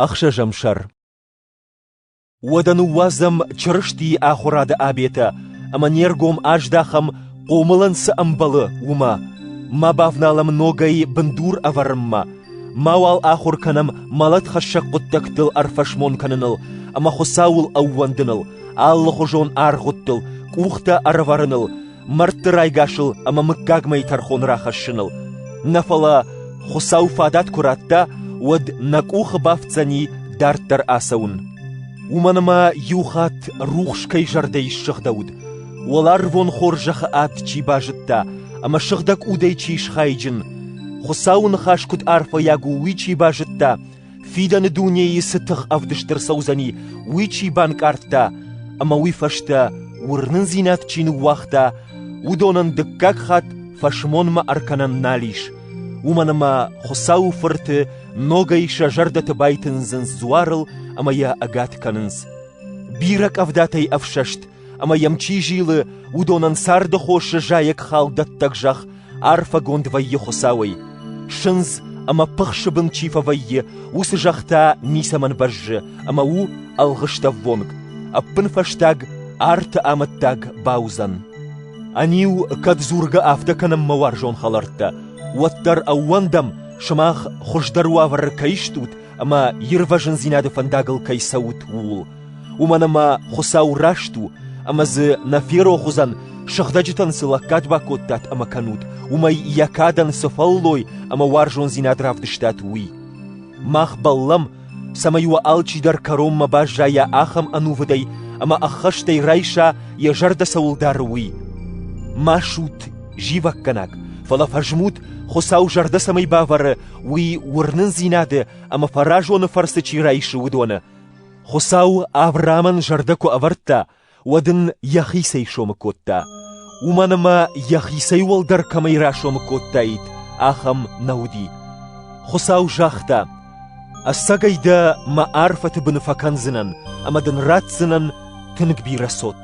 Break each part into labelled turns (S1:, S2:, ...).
S1: Ӕхсӕзӕм сӕр Уӕдӕ ныууадзӕм Чырыстийы ахуырады обетӕ ӕмӕ не ргом аздахӕм, хъомылӕн цы ӕмбӕлы, уымӕ, ма бавналӕм ногӕй бындур ӕвӕрынмӕ, мауал ахуыр кӕнӕм мӕлӕтхӕссӕг хъуыддӕгтыл ӕрфӕсмон кӕныныл ӕмӕ Хуыцауыл ӕууӕндыныл, алыхуызон аргъуыдтыл, къухтӕ ӕрӕвӕрыныл мӕрдты райгасыл ӕмӕ мыггагмӕйы тӕрхон рахӕссыныл, нӕ фӕлӕ Хуыцау фадат куы радта, уӕд нӕ къухы бафтдзӕни дарддӕр ацӕуын. Уымӕн ӕмӕ иу хатт рухс кӕй зӕрдӕйы ссыгъдӕуыд, уӕларвон хорзӕхы ад чи базыдта ӕмӕ сыгъдӕг удӕй чи схайджын, Хуыцауы ныхас куыд арфӕйаг у, уый чи базыдта, фидӕны дунейы цы тых ӕвдыст ӕрцӕудзӕни, уый чи банкъардта ӕмӕ уый фӕстӕ уырнындзинад чи ныууагъта, уыдонӕн дыккаг хатт фӕсмонмӕ ӕркӕнӕн нал ис, уымӕн ӕмӕ Хуыцауы фырты ногӕй сӕ зӕрдӕты байтындзынц дзуарыл ӕмӕ йӕ ӕгад кӕнынц. Бирӕ къӕвдатӕй ӕфсӕст ӕмӕ йӕм чи зилы, уыдонӕн царды хосы зайӕгхал дӕттӕг зӕхх арфӕгонд вӕййы Хуыцауӕй. Сындз ӕмӕ пыхсы бын чи фӕвӕййы, уыцы зӕхх та ницӕмӕн бӕззы, ӕмӕ у ӕлгъыстӕввонг. Ӕппынфӕстаг арты амӕттаг бауыдзӕн. Ӕниу, кӕд дзургӕ афтӕ кӕнынмӕ уарзон хӕлӕрттӕ, уӕддӕр ӕууӕндӕм, сымах хуыздӕр уавӕры кӕй стут ӕмӕ ирвӕзындзинады фӕндагыл кӕй цӕут, ууыл. Уымӕн ӕмӕ Хуыцау раст у, ӕмӕ дзы нӕ ферох уыдзӕн, сыгъдӕджытӕн цы лӕггад бакодтат ӕмӕ кӕнут, уымӕй йӕ кадӕн цы фӕллой ӕмӕ уарзондзинад равдыстат, уый. Мах бӕллӕм, цӕмӕй уӕ алчидӕр кӕронмӕ баззайа ахӕм ӕнувыдӕй ӕмӕ ӕххӕстӕй райса, йӕ зӕрдӕ цӕуыл дары, уый. Ма суут зивӕггӕнаг, фӕлӕ фӕзмут, Хуыцау зӕрдӕ цӕмӕй бавӕры, уый уырнындзинады ӕмӕ фӕразоны фӕрцы чи райсы, уыдоны. Хуыцау Авраамӕн зӕрдӕ куы ӕвӕрдта, уӕд ын йӕхицӕй сомы кодта, уымӕн ӕмӕ йӕхицӕй уӕлдӕр кӕмӕй расомы кодтаид, ахӕм нӕ уыди. Хуыцау загъта: «Ӕцӕгӕй дӕ мӕ арфӕты быны фӕкӕндзынӕн ӕмӕ дын ратдзынӕн тынг бирӕ цот».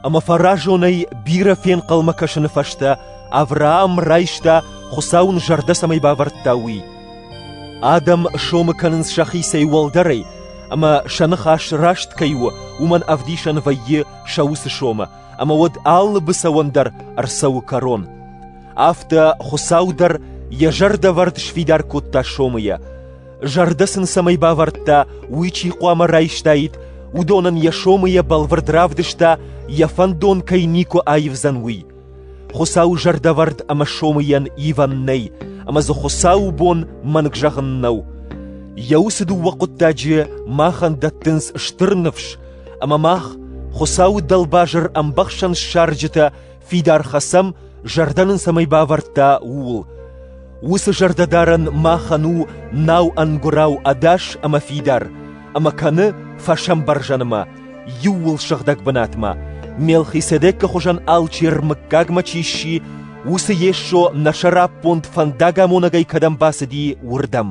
S1: Ӕмӕ фӕразонӕй бирӕ фенхъӕлмӕ кӕсыны фӕстӕ Авраам райста, Хуыцау ын зӕрдӕ цӕмӕй бавӕрдта, уый. Адӕм сомы кӕнынц сӕхицӕй уӕлдӕрӕй, ӕмӕ сӕ ныхас раст кӕй у, уымӕн ӕвдисӕн вӕййы сӕ уыцы сомы, ӕмӕ уӕд алы быцӕуӕн дӕр ӕрцӕуы кӕрон. Афтӕ Хуыцау дӕр йӕ зӕрдӕвӕрд сфидар кодта сомы йӕ. Зӕрдӕ сын цӕмӕй бавӕрдта, уый чи хъуамӕ райстаид, уыдонӕн йӕ сомыйӕ бӕлвырд равдыста, йӕ фӕндон кӕй никуы аивдзӕн, уый. Хуыцауы зӕрдӕвӕрд ӕмӕ сомыйӕн ивӕн нӕй, ӕмӕ дзы Хуыцауы бон мӕнг зӕгъын нӕу. Йӕ уыцы дыууӕ хъуыддаджы махӕн дӕттынц стыр ныфс, ӕмӕ мах, Хуыцауы дӕлбазыр ӕмбӕхсӕн ссарджытӕ, Фидар хӕцӕм, зӕрдӕ нын цӕмӕй бавӕрдта, ууыл. Уыцы зӕрдӕдарӕн махӕн у нау ӕнгуырау ӕдас ӕмӕ фидар, ӕмӕ кӕны фӕсӕмбӕрзӕнмӕ, иууыл сыгъдӕг бынатмӕ, Мелхиседекы хуызӕн алчи рмыггагмӕ чи сси, уыцы Йесо нӕ сӕраппонд фӕндагамонӕгӕй кӕдӕм бацыди, уырдӕм.